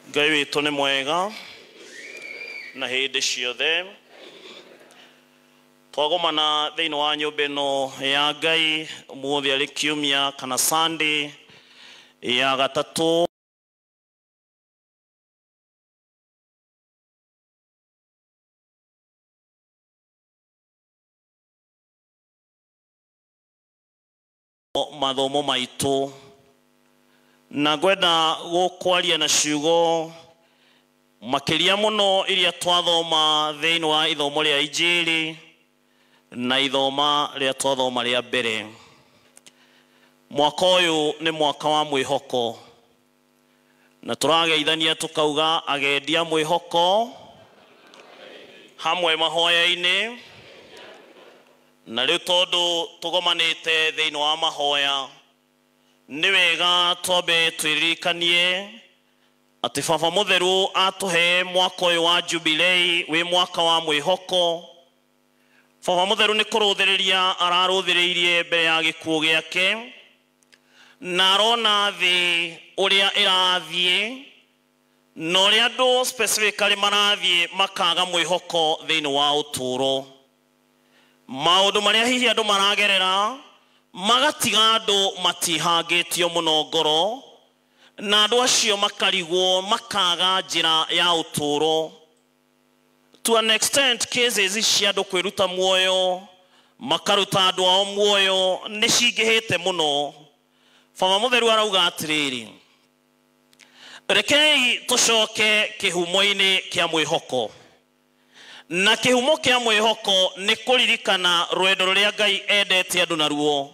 ngai witũ nĩ mwega na hĩndĩ ciothe twagomana thĩinĩ wa nyũmba ĩno ya ngai ũmũthĩ arĩ kiumia kana sunday ya gatatũ mathomo maitũ na ngwenda gũkwaria na ciugo makĩria mũno iria twathoma thĩinĩ wa ithomo rĩa injĩrĩ na ithoma rĩa twathoma rĩa mbere mwaka ũyũ nĩ mwaka wa mwĩhoko Na tũrageithania tũkauga agendia mwĩhoko hamwe mahoya-inĩ. Na rĩu tondũ tũgomanĩte thĩinĩ wa mahoya, nĩ wega twambe twĩririkanie atĩ Baba Mũtheru atũhe mwaka ũyũ wa Jubilee wĩ mwaka wa mwĩhoko. Baba Mũtheru nĩ kũrũthĩrĩria ararũthĩrĩirie mbere ya gĩkuũ gĩake. Na arona thĩ ũrĩa ĩrathiĩ, na ũrĩa andũ specifically marathiĩ makaga mwĩhoko thĩinĩ wa ũtũũro. Maũndũ marĩa hihi andũ maragerera magatiga andũ matihangĩtio mũno ngoro, na andũ acio makarigwo, makaga njĩra ya ũtũũro. to an extent cases ici cia andũ kwĩruta muoyo makaruta andũ ao muoyo nĩ cingĩhĩte mũno baba mũtheru arauga atĩrĩrĩ rekei tũcoke kĩhumo-inĩ kĩa mwĩhoko na kĩhumo kĩa mwĩhoko nĩ kũririkana rwendo rũrĩa ngai endete andũ naruo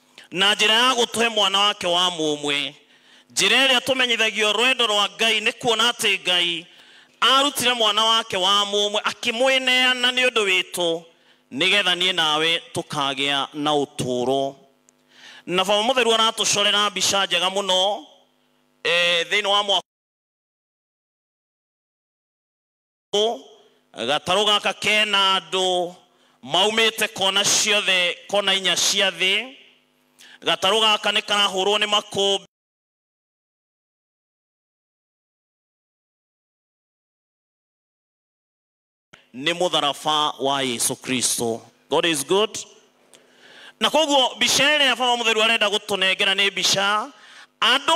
na njĩra ya gũtũhe mwana wake wa mũmwe njĩra ĩrĩa tũmenyithagio rwendo rwa ngai nĩ kuona atĩ ngai arutire mwana wake wa mũmwe akĩmwĩneana nĩ ũndũ witũ nĩgetha niĩ nawe tũkagĩa na ũtũũro na baba mũtheru aratũcorera mbica njega mũno eh, thĩinĩ wa mwaka gatarũ gaka kena andũ maumĩte kona ciothe kona inya cia thĩ gatarũ gaka nĩ karahũrwo nĩ makũmbĩ nĩ mũtharaba wa yesu kristo god is good na koguo mbica ĩrĩa baba mũtheru arenda gũtũnengera nĩ mbica andũ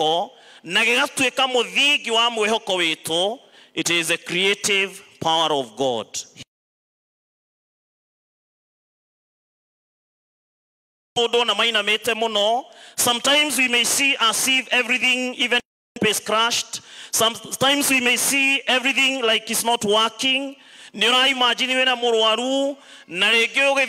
ko na gĩgatuĩka mũthingi wa mwĩhoko witũ it is the creative power of god mũndũ na mainamĩte mũno sometimes we may see as if everything even hope is crushed sometimes we may see everything like it's not working nĩ ũraimagine wĩna mũrwaru na rĩngĩ ũgĩ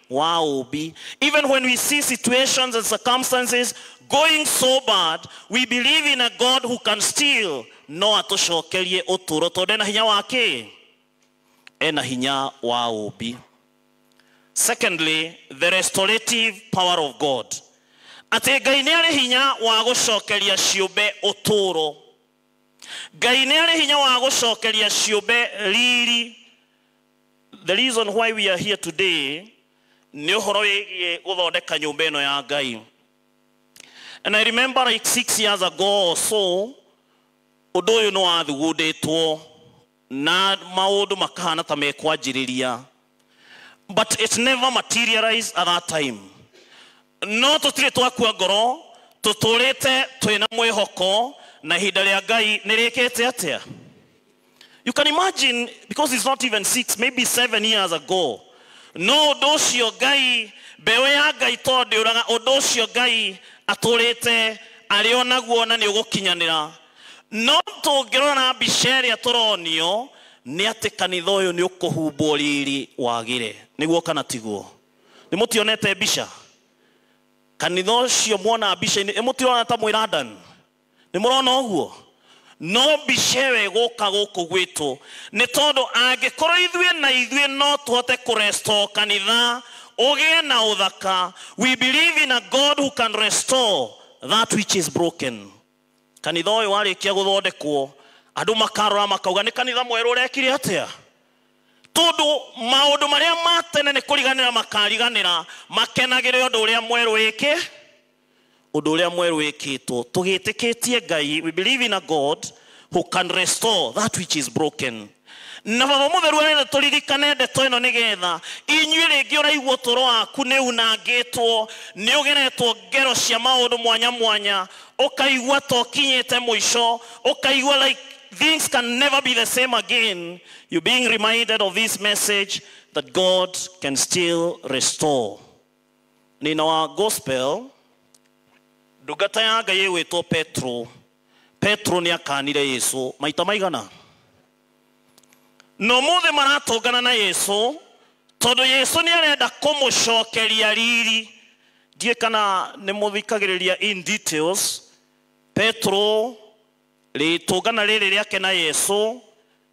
Why will be? Even when we see situations and circumstances going so bad, we believe in a God who can still no atũcokerie ũtũro tondũ ena hinya wa kĩ ena hinya wa ũmbi secondly the restorative power of god atĩ ngai nĩ arĩ hinya wa gũcokeria ciũmbe ũtũro ngai nĩ arĩ hinya wa gũcokeria ciũmbe riri The reason why we are here today nĩ ũhoro wĩgiĩ gũthondeka nyũmba ĩno ya Ngai. And I remember like six years ago or so, ũndũ ũyũ nĩ wathugundĩtwo na maũndũ makahana ta mekwanjĩrĩria. But it never materialized at that time. no tũtirĩ twakua ngoro tũtũrĩte twĩ na mwĩhoko na ihinda rĩa ngai nĩ rĩkĩte atĩa you can imagine because it's not even six maybe seven years ago no ũndũ ũcio ngai mbeũ ya ngai tondũ ndĩũraga ũndũ ũcio ngai atũrĩte arĩ o naguo na nĩ ũgũkinyanĩra no tũngĩrora na mbica ĩrĩa tũronio nĩ atĩ kanitha ũyũ nĩ ũkũhumbwo riri wagĩre nĩguo kana tiguo nĩ mũtionete mbica kanitha ũcio muona mbica-inĩ ĩmũtirona ta mwĩ London nĩ mũrona ũguo no mbica ĩyo ĩgũka gũkũ gwitũ nĩ tondũ angĩkorwo ithuĩ na ithuĩ no tũhote kũ restore kanitha ũgĩe na ũthaka we believe in a God who can restore that which is broken kanitha ũyũ warĩkia gũthondekwo andũ makarora makauga nĩ kanitha mwerũ ũrekire atĩa tondũ maũndũ marĩa ma tene nĩ kũriganĩra makariganĩra makenagĩre ũndũ ũrĩa mwerũ wĩkĩ ũndũ ũrĩa mwerũ wĩkĩtwo tũgĩtĩkĩtie ngai we believe in a god who can restore that which is broken Na Baba Mũtheru arenda tũririkane ndeto ĩno nĩgetha inyuĩ rĩngĩ ũraigua ũtũro waku nĩ unangĩtwo, nĩ ũgeretwo ngero cia maũndũ mwanya mwanya, ũkaigua ta ũkinyĩte mũico, ũkaigua like things can never be the same again, you being reminded of this message that God can still restore. Nina wa gospel, ndungata ya Ngai ĩgwĩtwo Petro, Petro nĩ akaanire Yesu maita maigana? Na ũmũthĩ maratũngana na Yesu tondũ Yesu nĩ arenda kũmũcokeria riri. Ndiĩ kana nĩ mũthikagĩrĩria in details. Petro, rĩtũngana rĩrĩ rĩake na Yesu,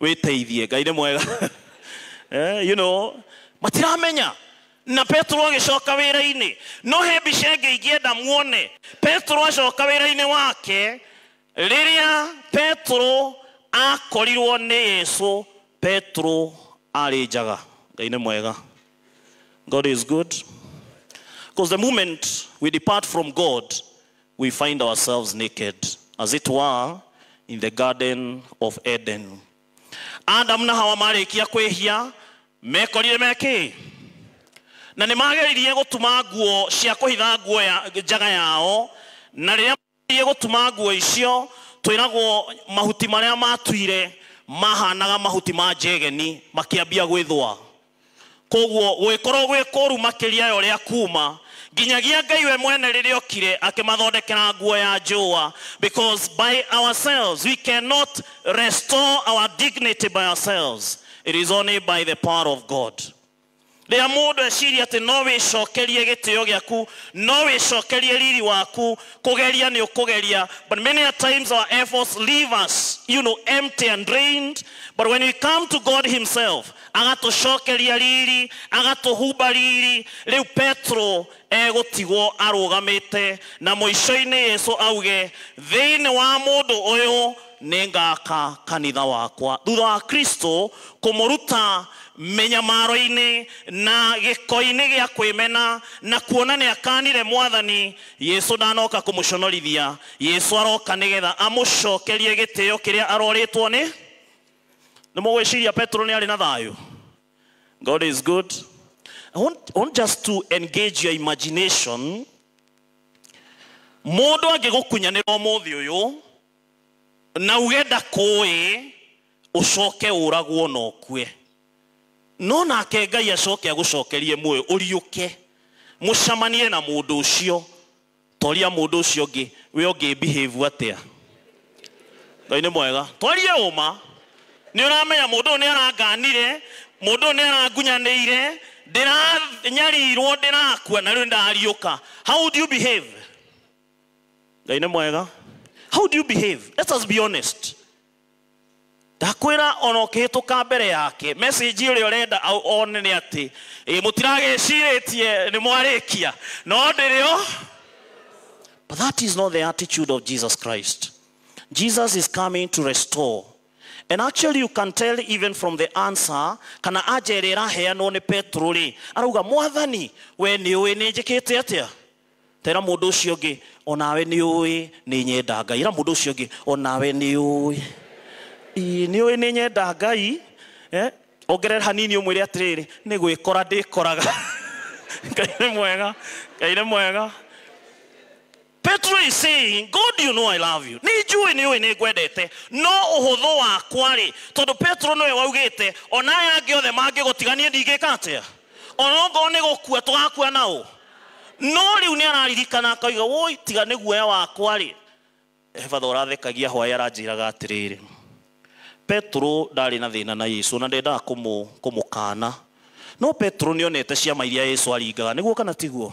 wĩteithie ngai nĩ mwega eh, you know matiramenya na petero agĩcoka wĩra-inĩ no he mbica ĩngĩ ingĩenda muone petero acoka wĩra-inĩ wake rĩrĩa petero akorirwo nĩ yesu petero arĩ njaga ngai nĩ mwega god is good because the moment we depart from god we find ourselves naked, as it were, in the Garden of Eden. Adamu na Hawa marĩkia kwĩhia mekorire mekĩ na nĩ mageririe gũtuma nguo cia kũhitha nguo ya njaga yao na rĩrĩa mageririe gũtuma nguo icio twĩragwo mahuti marĩa matuire mahanaga mahuti ma njegeni makĩambia gwĩthũa Kwoguo gũgĩkorwo gwĩ kũũru makĩria ya ũrĩa kuuma, nginyagia Ngai we mwene rĩrĩa okire akĩmathondekera nguo ya njũũa, because by ourselves we cannot restore our dignity by ourselves, it is only by the power of God. Rĩrĩa mũndũ eciria atĩ no wĩcokerie gĩtĩo gĩaku, no wĩcokerie riri waku, kũgeria nĩ ũkũgeria, but many a times our efforts leave us, you know, empty and drained, but when we come to God himself, agatũcokeria riri agatũhumba riri rä u petero egå tigwo arå gamä te na må ico-inä yesu auge thä inä wa må ndå å yå nä ngaka kanitha wakwa thutha wa kristo kå må ruta mĩnyamaro-inĩ na gĩko-inĩ gĩa kwĩmena na kuona nĩ akanire mwathani yesu ndanoka kũmũconorithia yesu aroka nĩgetha amũcokerie gĩtĩo kĩrĩa arorĩtwo nĩ nĩ mũgwĩciria petero nĩ arĩ na thayũ god is good I want, I want just to engage your imagination mũndũ angĩgũkunyanĩra ũmũthĩ ũyũ na uge ndakũĩ ũcoke ũragwo na ũkue no nake ngai acoke agũcokerie muoyo ũriũke mũcamanie na mũndũ ũcio Twaria mũndũ ũcio ũngĩ, we ũngĩ behave atĩa? Ngai nĩ mwega. Twarie ũma. Nĩ ũramenya mũndũ ũyũ nĩ aranganire, mũndũ ũyũ nĩ arangunyanĩire, ndĩranyarirwo, ndĩrakua na rĩu nĩ ndariũka. How would you behave? Ngai nĩ mwega. How would you behave? Let us be honest. ndakwĩra ona ũkĩhĩtũka mbere yake message ũrĩa ũrenda au- one nĩ atĩ ĩ, mũtiragĩcirĩtie nĩ mwarĩkia no ndĩrĩ o but that is not the attitude of jesus christ jesus is coming to restore and actually you can tell even from the answer kana anja ĩrĩa ĩraheanwo nĩ petro rĩ arauga mwathani we nĩ ũĩ nĩ njĩkĩte atĩa Tera mundu ucio ungi onawe ni ui ni nyenda Ngai. Ira mundu ucio ungi onawe ni ui. Ii ni ui ni nyenda Ngai. Eh? Ongerera hanini umwire atiriri ni gwikora ndikoraga. Ngai ni mwega. Ngai ni mwega. Petro is saying, God you know I love you. Nĩ njũĩ nĩ ũĩ nĩ ngwendete. No ũhũthũ wakwa rĩ, tondũ Petro nĩwe waugĩte, ona aya angĩ othe mangĩgũtiga niĩ ndingĩka atĩa? onokorwo nĩ gũkua tũgakua na ũ no rĩu nĩ araririkana akoiga woi tiga nĩ guoya wakwa rĩ ebatha ũrathekagia hwaĩ aranjĩraga atĩrĩrĩ petero ndarĩ na thĩna na yesu na ndendaga kũmũ, kũmũkana no petero nĩ onete ciama iria yesu aringaga nĩguo kana tiguo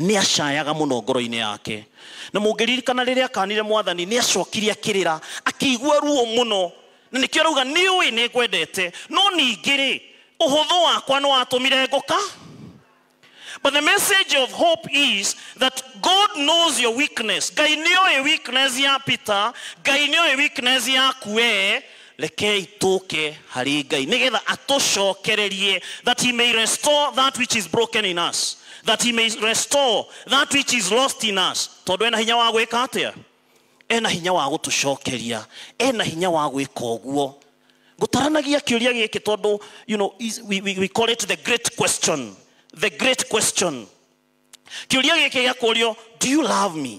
nĩ acayaga mũno ngoro-inĩ yake na mũngĩririkana rĩrĩa akanire mwathani nĩ acokire akĩrĩra akĩigua ruo mũno na nĩkĩo arauga nĩ ũĩ nĩ ngwendete no ningĩ rĩ ũhũthũ wakwa nĩ watũmire ngũka But the message of hope is that God knows your weakness. Ngai nĩ oĩ weakness ya Peter, Ngai nĩ oĩ weakness yaku wee, Rekei tũke harĩ Ngai nĩgetha atũcokererie that he may restore that which is broken in us that he may restore that which is lost in us tondũ ena hinya wa gwĩka atĩa ena hinya wa gũtũcokeria ena hinya wa gwĩka ũguo ngũtaranagia kĩũria gĩkĩ tondũ you know, is- we, we, we call it the great question the great question kĩũria gĩkĩ gĩa kũrio do you love me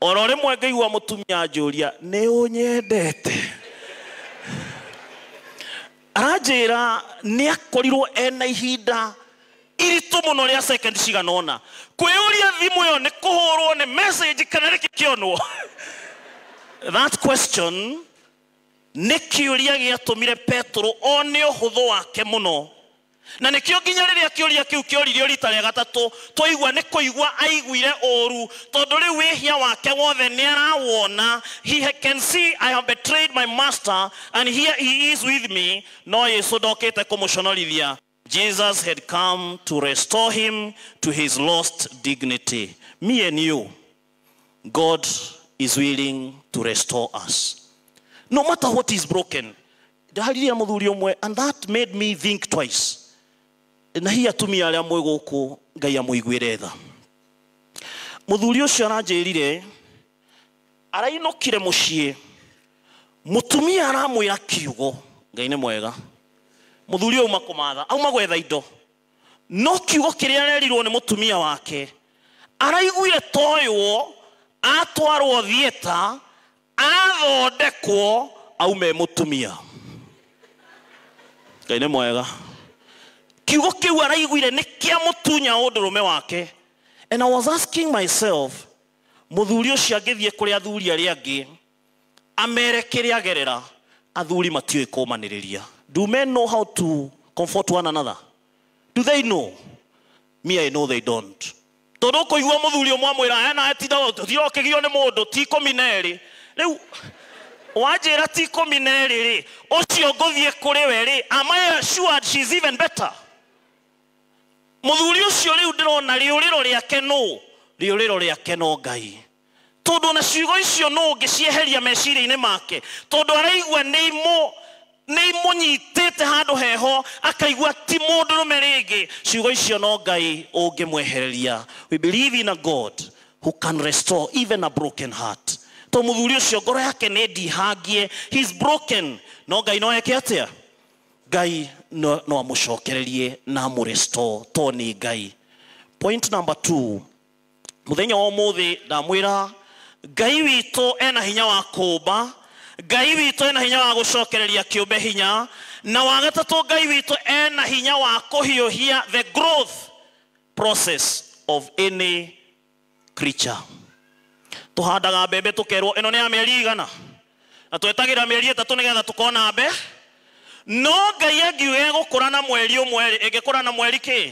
oro rimwe ngĩigua mũtumia anjũria nĩ ũnyendete aranjĩra nĩ akorirwo ena ihinda iritũ mũno rĩa second cigana ũna kwĩyũria thimũ ĩyo nĩ kũhũrwo nĩ message kana nĩ kĩkĩonwo that question nĩ kĩũria gĩatũmire petero one ũhũthũ wake mũno na nĩkĩo nginya rĩrĩa kĩũria kĩu kĩoririo rita rĩa gatatũ twaigua nĩ kũigua aiguire ũũru tondũ rĩu wĩhia wake wothe nĩ arawona he can see I have betrayed my master and here he is with me no Yesu ndokĩte kũmũconorithia Jesus had come to restore him to his lost dignity mie niũ God is willing to restore us. No matter what is broken. Ndaharirie na mũthuri ũmwe and that made me think twice. Na hihi atumia arĩa mwĩ gũkũ Ngai amũiguĩre tha. Mũthuri ũcio aranjĩrire arainũkire mũciĩ mũtumia aramwĩra kiugo Ngai nĩ mwega. Mũthuri ũyũ auma kũmatha, auma gwetha indo. No kiugo kĩrĩa arerirwo nĩ mũtumia wake, araiguire toywo, atwarwo thieta, athondekwo, aume e mũtumia. Ngai nĩ mwega. Kiugo kĩu araiguire nĩ kĩa mũtunya ũndũrũme wake. And I was asking myself, mũthuri ũcio angĩthiĩ kũrĩ athuri arĩa angĩ, amere kĩrĩa agerera athuri matiũĩ kũmanĩrĩria do men know how to comfort one another do they know me i know they don't tondũ ũkũigua mũthuri ũmwe amwĩra ena etinda ũthire ũkĩgio nĩ mũndũ ti ikũmi na erĩ rĩu wanjĩra ti ikũmi na erĩ rĩ ũcio ngũthiĩ kũrĩ we rĩ am i assured she is even better mũthuri ũcio rĩu ndĩrona rĩũrĩro rĩake nũ rĩũrĩro rĩake no ngai Tondũ o na ciugo icio nũũ ũngĩcieheria meciria-inĩ make? Tondũ araigua nĩ imũ, nĩ imũnyitĩte handũ heho, akaigua ti mũndũrũme rĩngĩ. Ciugo icio no Ngai ũngĩmwehereria. We believe in a God who can restore even a broken heart. Tondũ mũthuri ũcio ngoro yake nĩ ndihangie, he is broken. No Ngai no eke atĩa? Ngai no, no amũcokererie na amũ restore, tondũ nĩ Ngai. Point number two, mũthenya wa ũmũthĩ ndamwĩra ngai witũ ena hinya wa kũũmba ngai witũ ena hinya wa gũcokereria kĩũmbe hinya na wagatatũ ngai witũ ena hinya wa kũhiũhia the growth process of any creature tũhandaga mbembe tũkerwo ĩno nĩ ya mĩeri igana na twetagĩra mĩeri ĩtatũ nĩgetha tũkona mbe no ngai angiuga ĩgũkũra na mweri ũmwe rĩ ĩngĩkũra na mweri kĩ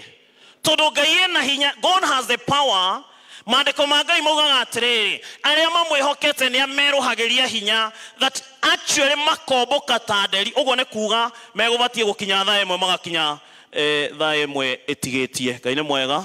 tondũ ngai ena hinya god has the power maandĩko ma ngai maugaga atĩrĩrĩ arĩa mamwĩhokete nĩ amerũhagĩria hinya that actually makomboka ta nderi ũguo nĩ kuga megũbatiĩ gũkinya thaa ĩmwe magakinya eh, thaa ĩmwe ĩtigĩtie ngai nĩ mwega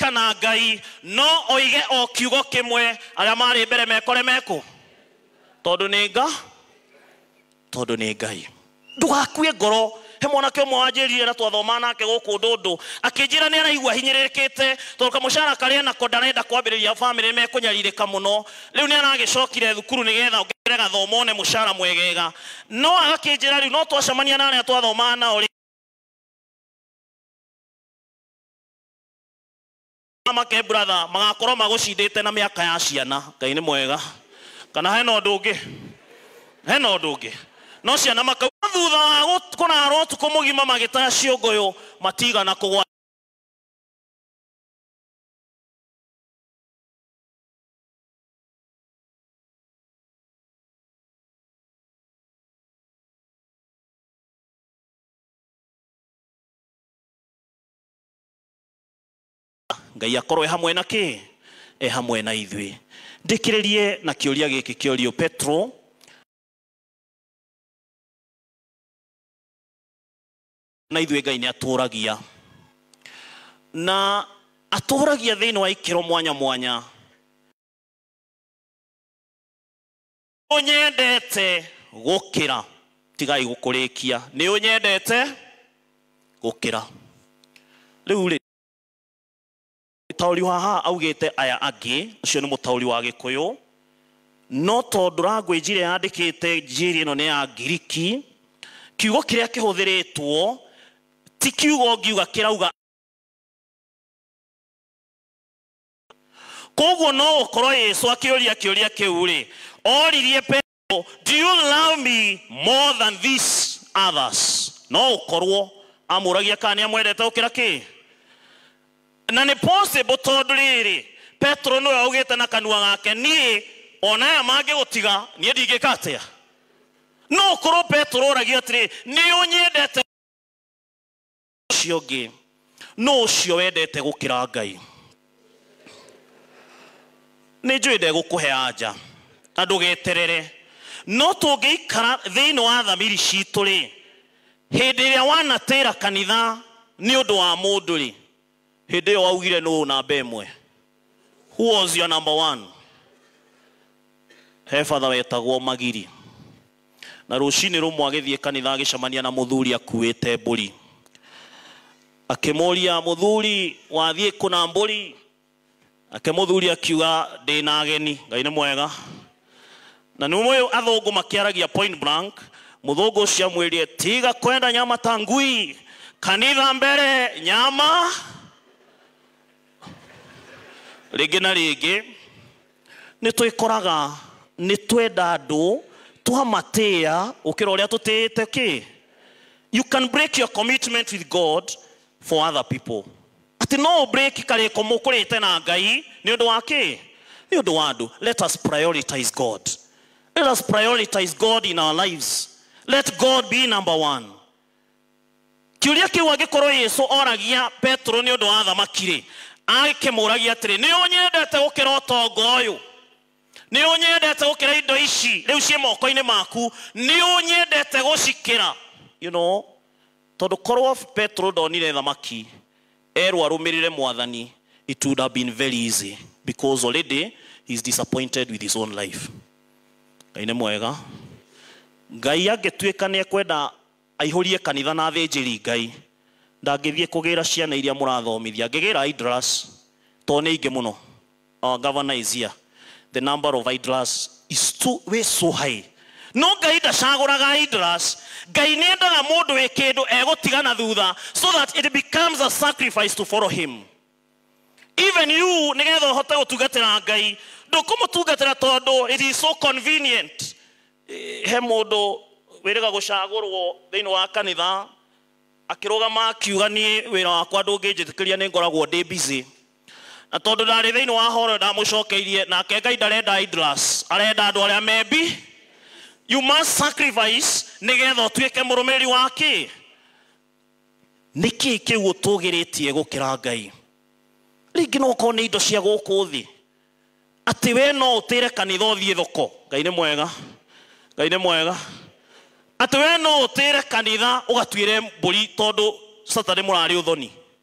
kana ngai no oige o kiugo kĩmwe arĩa marĩ mbere mekore mekũ tondũ nĩ nga tondũ nĩ ngai ndũgakue ngoro he mwanake ũmwe wanjĩrire na twathoma nake gũkũ ndũndũ akĩnjĩra nĩ araigua hinyĩrĩrĩkĩte tondũ kamũcara karĩa nako ndarenda kwambĩrĩria bamĩrĩ mekũnyarirĩka mũno rĩu nĩ aragĩcokire thukuru nĩgetha ongerere gathomo one mũcara mwegega no agakĩnjĩra rĩu no twacemania na arĩa twathomaga nao rĩ make brother magakorwo magũcindĩte na mĩaka ya ciana ngai nĩ mwega kana hena ũndũ ũngĩ hena ũndũ ũngĩ no ciana makau thutha wa gũ- kũrara ũtukũ mũgima magĩtaya ciũngũyũ matigana kũgwa ngai akorwo e hamwe na kä e hamwe na ithuĩ ndĩkĩrĩrie na kĩũria gĩkĩ kĩorio petro na ithuĩ ngai nĩ atũragia na atũragia thĩinĩ wa ikĩro mwanya mwanya ũnyendete gũkĩra tigai gũkũrĩkia nĩ ũnyendete gũkĩra rĩu rĩ mũtaũri wa haha augĩte aya angĩ ũcio nĩ mũtaũri wa gĩkũyũ no tondũ language ĩrĩa yandĩkĩte njĩri ĩno nĩ ya ngiriki kiugo kĩrĩa kĩhũthĩrĩtwo ti kiugo ngiuga kĩrauga koguo no gũkorwo yesu akĩũria kĩũria kĩu rĩ oririe petero do you love me more than these others no gũkorwo amũragia kana nĩ amwendete gũkĩra kĩ na nĩ possible tondũ rĩrĩ petero nĩwe augĩte na kanua gake niĩ ona aya mangĩgũtiga niĩ ndingĩka atĩa no ũkorwo petero oragia atĩrĩ nĩ ũnyendete ũcio ũngĩ nũ ũcio wendete gũkĩra ngai nĩ njũĩ ndegũkũhe anja na ndũgeterere no tũngĩikara thĩinĩ wa thamiri citũ rĩ hĩndĩ ĩrĩa wanatĩra kanitha nĩ ũndũ wa mũndũ rĩ hĩndĩ ĩyo waugire nũ namba ĩmwe who was your number one he batha wetagwo magiri Na rũcinĩ rũmwe agĩthiĩ kanitha agĩcemania na mũthuri akuĩte mbũri. Akĩmũria, mũthuri, wathiĩ kũ na mbũri? Nake mũthuri akiuga, ndĩ na ageni. Ngai nĩ mwega. Na nĩ mũĩ athũngũ makĩaragia point blank, mũthũngũ ũcio amwĩrire, tiga kwenda nyama ta ngui, kanitha mbere, nyama rĩngĩ na rĩngĩ. nĩ twĩkoraga nĩ twenda andũ twamatĩa gũkĩra ũrĩa tũtĩĩte kĩ you can break your commitment with god for other people atĩ no ũbrĩki karĩko mũkũrĩte na ngai nĩ ũndũ wa kĩ nĩ ũndũ wa andũ let us prioritize god let us prioritize god in our lives let god be number one Kĩũria kĩu angĩkorwo Yesu oragia Petero nĩ ũndũ wa thamaki-rĩ, angĩkĩmũragia atĩrĩ, nĩ ũnyendete gũkĩra ũtonga ũyũ? Nĩ ũnyendete gũkĩra indo ici rĩu ciĩ moko-inĩ maku? Nĩ ũnyendete gũcikĩra? You know, tondũ korwo Petero ndonire thamaki, Erwo arũmĩrĩre mwathani it would have been very easy because already he is disappointed with his own life. Ngai nĩ mwega. Ngai angĩtuĩka nĩ ekwenda aihũrie kanitha na athĩnjĩri Ngai, ndangĩthiĩ kũgĩra ciana iria mũrathomithia. Angĩgĩra Idras tondũ nĩ aingĩ mũno. Our governor is here. The number of idlers is too, way so high. No Ngai ndacagũraga idlers. Ngai nĩ endaga mũndũ wĩ kĩndũ egũtiga na thutha so that it becomes a sacrifice to follow him. Even you nĩgetha ũhote gũtungatĩra Ngai ndũkũmũtungatĩra tondũ it is so convenient. Eh, He mũndũ wĩrĩga gũcagũrwo thĩinĩ wa kanitha akĩrũgama akiuga niĩ wĩra wakwa ndũngĩnjĩtĩkĩria nĩ ngoragwo ndĩ busy Na tondũ ndarĩ thĩinĩ wa horo ĩyo ndamũcokeirie, nake Ngai ndarenda idlers, arenda andũ arĩa membi. You must sacrifice nĩgetha ũtuĩke mũrũmĩrĩri wa kĩ? Nĩ kĩĩ kĩu ũtũgĩrĩtie gũkĩra Ngai? Rĩngĩ no ũkorwo nĩ indo cia gũkũ thĩ. Atĩ we no ũtĩre kanitha ũthiĩ thoko. Ngai nĩ mwega. Ngai nĩ mwega. Atĩ we no ũtĩre kanitha ũgatuĩre mbũri tondũ Saturday mũrarĩ ũthoni.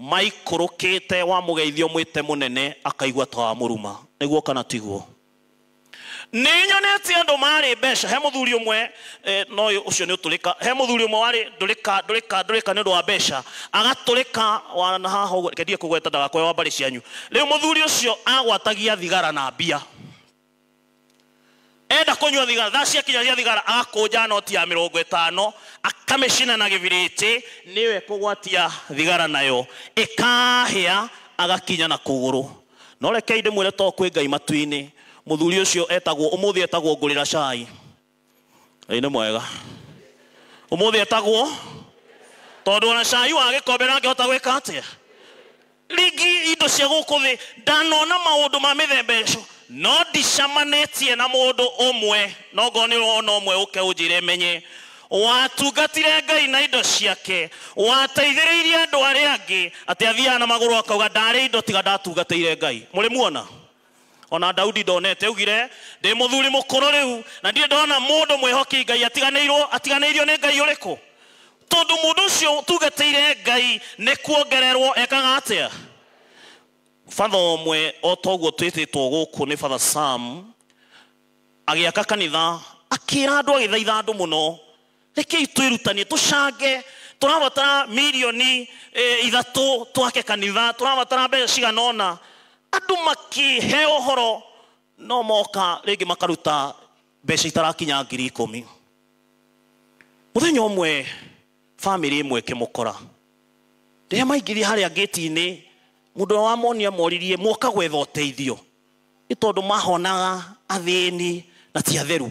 Maikũrũkĩte wa mũgeithia ũmwĩte mũnene akaigua ta wa mũruma. Nĩguo kana tiguo? Nĩ nyonete andũ marĩ mbeca. He mũthuri ũmwe e, no ũcio nĩ ũtũrĩka. He mũthuri ũmwe warĩ ndũrĩka ndũrĩka ndũrĩka nĩ ũndũ wa mbeca. Agatũrĩka wa na haha ũguo, reke ndige kũgweta ndagakorwo wa mbarĩ cianyu. Rĩu mũthuri ũcio agwatagia thigara na mbia. enda kũnyua thigara thaa ciakinya cia thigara agakũnja noti ya mĩrongo ĩtano akamĩcina na gĩbirĩti nĩyo ekũgwatia thigara nayo ĩkahĩa agakinya na kũgũrũ no rekei ndĩmwĩre to kwĩ ngai matu-inĩ mũthuri ũcio etagwo ũmũthĩ etagwo ngũrĩra cai Ngai nĩ mwega. Ũmũthĩ etagwo tondũ ona cai wa gĩkombe ndangĩhota gwĩka atĩa. Rĩngĩ indo cia gũkũ thĩ ndanona maũndũ ma mĩthemba ĩco no ndicamanĩtie na mũndũ ũmwe no ngorwo nĩ ũrona ũmwe ũke ũnjĩre menye watungatire Ngai na indo ciake wateithĩrĩirie andũ arĩa angĩ atĩ athiaga na magũrũ akauga ndarĩ indo tiga ndatungatĩire Ngai. Mũrĩ muona? O na Daudi ndonete. Augire, Ndĩ mũthuri mũkũrũ rĩu, na ndirĩ ndona mũndũ mwĩhoki Ngai atiganĩirwo, atiganĩirio nĩ Ngai ũrĩkũ? Tondũ mũndũ ũcio ũtungatĩire Ngai nĩ kuongererwo ekaga atĩa? Father ũmwe o ta ũguo twĩtĩtwo gũkũ nĩ Father Sam, agĩaka kanitha, akĩra andũ agĩthaitha andũ mũno, rekei twĩrutanie tũcange tũrabatara milioni eh, ithatũ twake kanitha tũrabatara mbeca cigana ũna andũ makĩhe ũhoro no moka rĩngĩ makaruta mbeca itarakinya ngiri ikũmi mũthenya ũmwe bamĩrĩ ĩmwe ĩkĩmũkora rĩrĩa maingĩrire harĩa ngĩti-inĩ mũndũ ũrĩa wamonia moririe muoka gwetha ũteithio nĩ tondũ mahonaga athĩni na ti atheru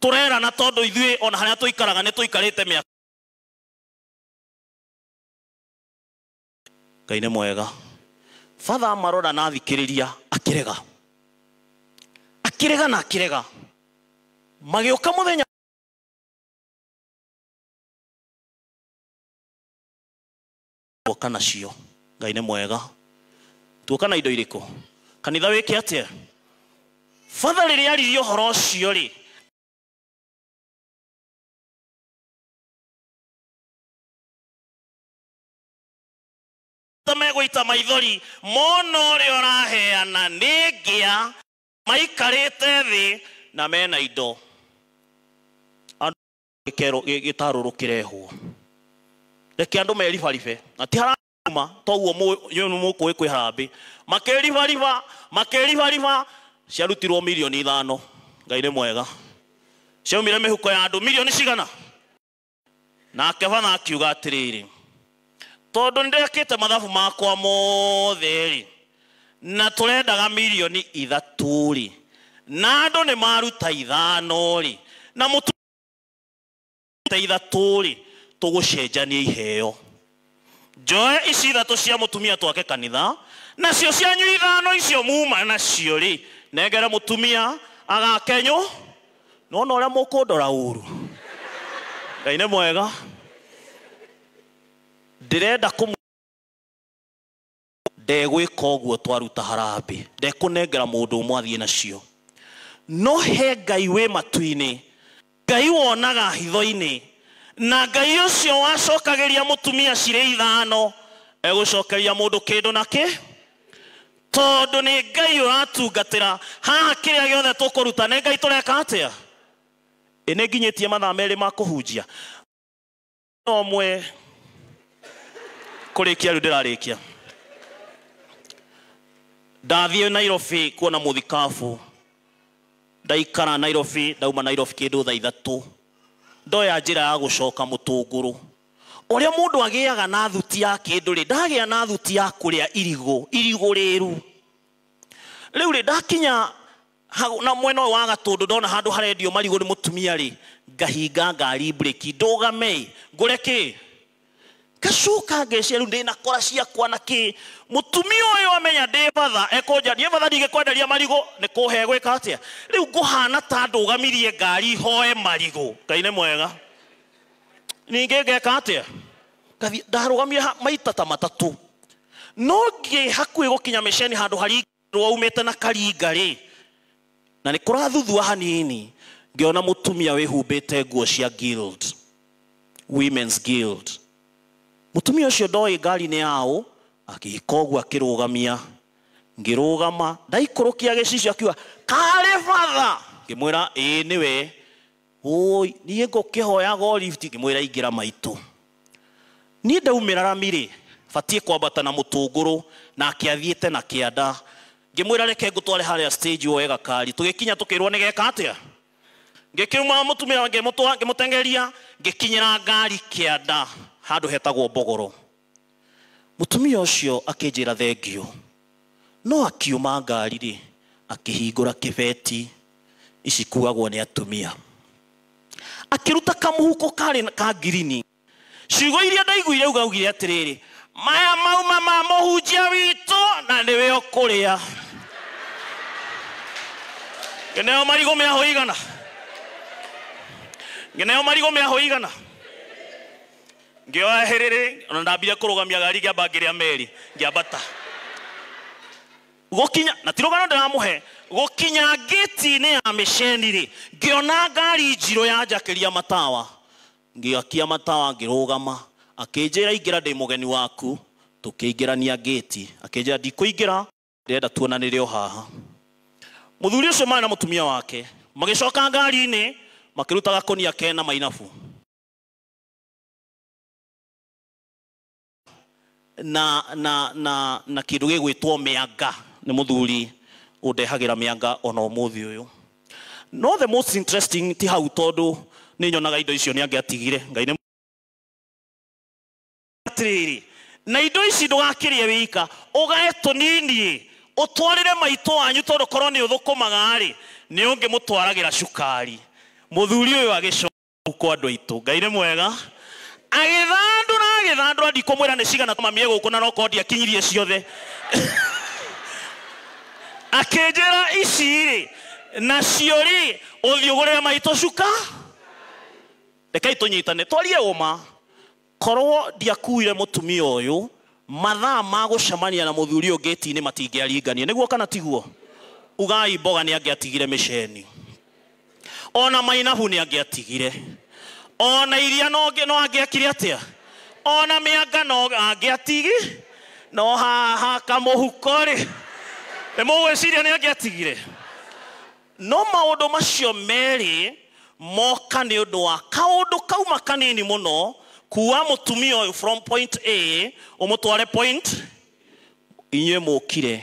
Tũrerana tondũ ithuĩ o na harĩa tũikaraga nĩ tũikarĩte mĩaka. Ngai nĩ mwega. Father amarora na athikĩrĩria akĩrega. Akĩrega na akĩrega. Magĩũka mũthenya. tuoka nacio ngai nĩ mwega tuoka na indo irĩkũ kanitha wĩke atĩa batha rĩrĩa aririe ũhoro ũcio rĩ ta megũita maithori mona ũrĩa ũraheana nĩ ngĩa maikarĩte thĩ na mena indo gĩkero- gĩ- gĩtarũrũ kĩrehwo reke andũ meribaribe na ti harama toguo mũkũĩ kwĩ harambĩ makĩribariba makĩribariba ciarutirwo milioni ithano ngai nĩ mwega ciaumire mĩhuko ya andũ milioni cigana nake bana akiuga atĩrĩrĩ tondũ nĩ ndekĩte mathabu makwa mothe rĩ na tũrendaga milioni ithatũ rĩ na andũ nĩ maruta ithano rĩ na mũtu ta ithatũ rĩ tũgũcenjania iheo njoe ici ithatũ cia mũtumia twake kanitha nacio cianyu ithano icio muma nacio rĩ nengere mũtumia agakenyũ nona ũrĩa mũkũndora ũru ngai nĩ mwega ndĩrenda kũmũ ndegwĩka ũguo twaruta harambĩ ndekũnengera mũndũ ũmwe athiĩ nacio no he ngai wĩ matu-inĩ ngai wonaga hitho-inĩ na ngai ũcio wacokagĩria mũtumia cirĩ ithano egũcokeria mũndũ kĩndũ na kĩ tondũ nĩ ngai ũratungatĩra haha kĩrĩa gĩothe tũkũruta nĩ ngai tũreka atĩa ĩ nĩ nginyĩtie mathaa merĩ ma kũhunjia no mwe kũrĩkia rĩu ndĩrarĩkia ndathiĩ nairobi kuona mũthikabu ndaikara nairobi ndauma nairobi kĩndũ thaa ithatũ ndoya njĩra ya gũcoka mũtũngũrũ ũrĩa mũndũ agĩaga na thuti ya kĩndũ rĩ ndagĩa na thuti ya kũrĩa irigũ irigũ rĩru rĩu rĩ ndakinya Hau na mwena ũyũ wa gatũndũ ndona handũ harendio marigũ nĩ mũtumia rĩ ngahinga ngari mburĩki ndũgame ĩ ngũre kĩ ngacoka ngeciria rĩu ndĩna kora ciakwa na kĩ mũtumia ũyũ amenya ndĩ batha ekũnja ndiĩ batha ndingĩkwenderia marigũ nĩ kũhe gwĩka atĩa rĩu ngũhana ta ndũgamirie ngari hoe marigũ ngai nĩ mwega ningĩ ngeka atĩa Ngathiĩ- ndarũgamire ha- maita ta matatũ no ngĩ hakuhĩ gũkinya mĩceni handũ hari nĩ waumĩte na karinga rĩ na nĩ kũrathuthua hanini ngĩona mũtumia wĩhumbĩte nguo cia guild women's guild mũtumia ũcio ndoĩ ngari nĩ yaũ agĩka ũguo akĩrũgamia ngĩrũgama ndaikũrũkia gĩcicio akiuga karĩ batha ngĩmwĩra ĩĩ nĩwe ũũi niĩ ngũkĩhoyaga o lift ngĩmwĩra ingĩra maitũ niĩ ndaumĩra rami rĩ batiĩ kwambata na mũtũngũrũ nake athiĩte na kĩanda ngĩmwĩra reke ngũtware harĩa stage woe gakari tũgĩkinya tũkĩrwo nĩ geka atĩa ngĩkiuma mũtumia ngĩmũtwa- ngĩmũtengeria ngĩkinyĩra ngari kĩanda handũ hetagwo mbogoro Mũtumia ũcio akĩnjĩra thengiũ. No akiuma ngari-rĩ, akĩhingũra kĩbeti ici kuagwo nĩ atumia. Akĩruta kamũhuko karĩ ka ngirini. Ciugo iria ndaiguire uga augire atĩrĩrĩ, Maya mauma ma mũhunjia witũ na nĩwe ũkũrĩa. Ngĩneo marigũ mĩahũ igana. Ngĩneo marigũ mĩahũ igana. Ngĩoya hĩrĩrĩ na ndambire kũrũgamia gari ngĩamba ngĩrĩa meri ngĩambata gũkinya na ti rũgano ndĩramũhe gũkinya ngĩti-inĩ ya mĩceni rĩ ngĩona ngari njirũ yanjakĩria matawa ngĩakia matawa ngĩrũgama akĩnjĩra ingĩra ndĩ mũgeni waku tũkĩingĩrania ngĩti akĩnjĩra ndikũingĩra ndĩrenda tuonanĩre o haha mũthuri ũcio marĩ na mũtumia wake magĩcoka ngari-inĩ makĩruta gakũnia kena mainabu na na na na kindu gigwitwo mianga ni muthuri undehagira mianga ona umuthi uyu no the most interesting ti hau tondu ni nyonaga indo icio ni angiatigire ngai ni atiriri na indo ici ndugakirie wika ugae tunini utwarire maitå wanyu tondu korwo ni uthukumaga ri ni ungimutwaragira cukari muthuri uyu agicoka kwa andå aitå ngai nä mwega agĩthandũra agĩthandũra ndikũmwĩra nĩ cigana mamie gũkũ na nokorwo ndiakinyirie ciothe akĩnjĩra ici rĩ nacio rĩ ũthiũgũrĩre maitũ cuka rekai tũnyitane twarie ũma Korũo ndiakuuire mũtumia ũyũ, mathaa ma gũcemania na mũthuri ũyũ ngĩti-inĩ matingĩaringanire. Nĩguo kana tiguo? Ugai mboga nĩ angĩatigire mĩceni. O na mainabu nĩ angĩatigire. O na iria no angĩekire atĩa? O na mĩanga no angĩatigi. No haha kamũhuko-rĩ, nĩ mũgwĩciria nĩ angĩatigire? No maũndũ macio merĩ moka nĩ ũndũ wa kaũndũ kauma kanini mũno, kuua mũtumia ũyũ from point A ũmũtware point Inyuĩ mũũkire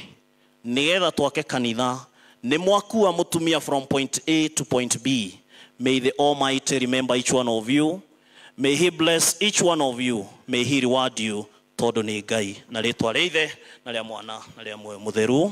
nĩ getha twake kanitha, nĩ mwakuua mũtumia from point A to point B. May the Almighty remember each one of you, may He bless each one of you, may He reward you tondũ nĩ Ngai. Na rĩtwa rĩa Ithe na rĩa Mwana na rĩa Muoyo Mũtheru.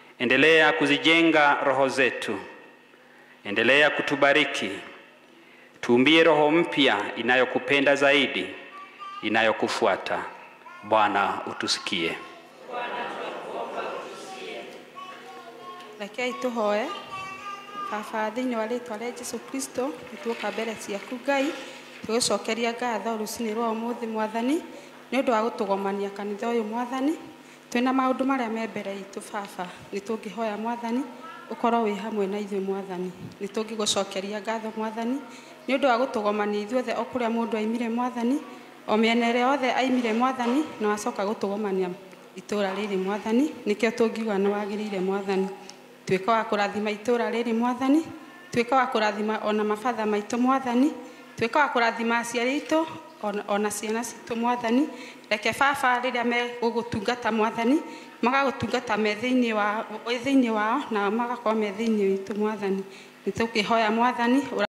Endelea kuzijenga roho zetu, endelea kutubariki, tuumbie roho mpya inayokupenda zaidi, inayokufuata. Bwana utusikie. rekei tũhoe baba thĩinĩ wa rĩtwa rĩa jesu kristo nĩtuoka mbere ciaku ngai tũgĩcokeria ngatho rũcinĩ rwa ũmũthĩ mwathani nĩ ũndũ wa gũtũgomania kanitha ũyũ mwathani Twĩna maũndũ marĩa me mbere itũ, Baba, nĩtũngĩhoya, Mwathani, ũkorwo wĩ hamwe na ithuĩ, Mwathani. Nĩtũngĩgũcokeria ngatho, Mwathani, nĩ ũndũ wa gũtũgomania ithuothe o kũrĩa mũndũ aimire, Mwathani, o mĩena ĩrĩa yothe aimire, Mwathani, na wacoka gũtũgomania itũũra rĩrĩ, Mwathani, nĩkĩo tũngiuga nĩwagĩrĩire, Mwathani. Tuĩka wa kũrathima itũũra rĩrĩ Mwathani, tuĩka wa kũrathima ona mabatha maitũ Mwathani, tuĩka wa kũrathima aciari aitũ ona, ona ciana citũ Mwathani. Reke Baba rĩrĩa megũgũtungata Mwathani, magagũtungata me thĩinĩ wa, wĩ thĩinĩ wao, nao magakorwo me thĩinĩ witũ Mwathani. Nĩ tũkĩhoya Mwathani, ũra-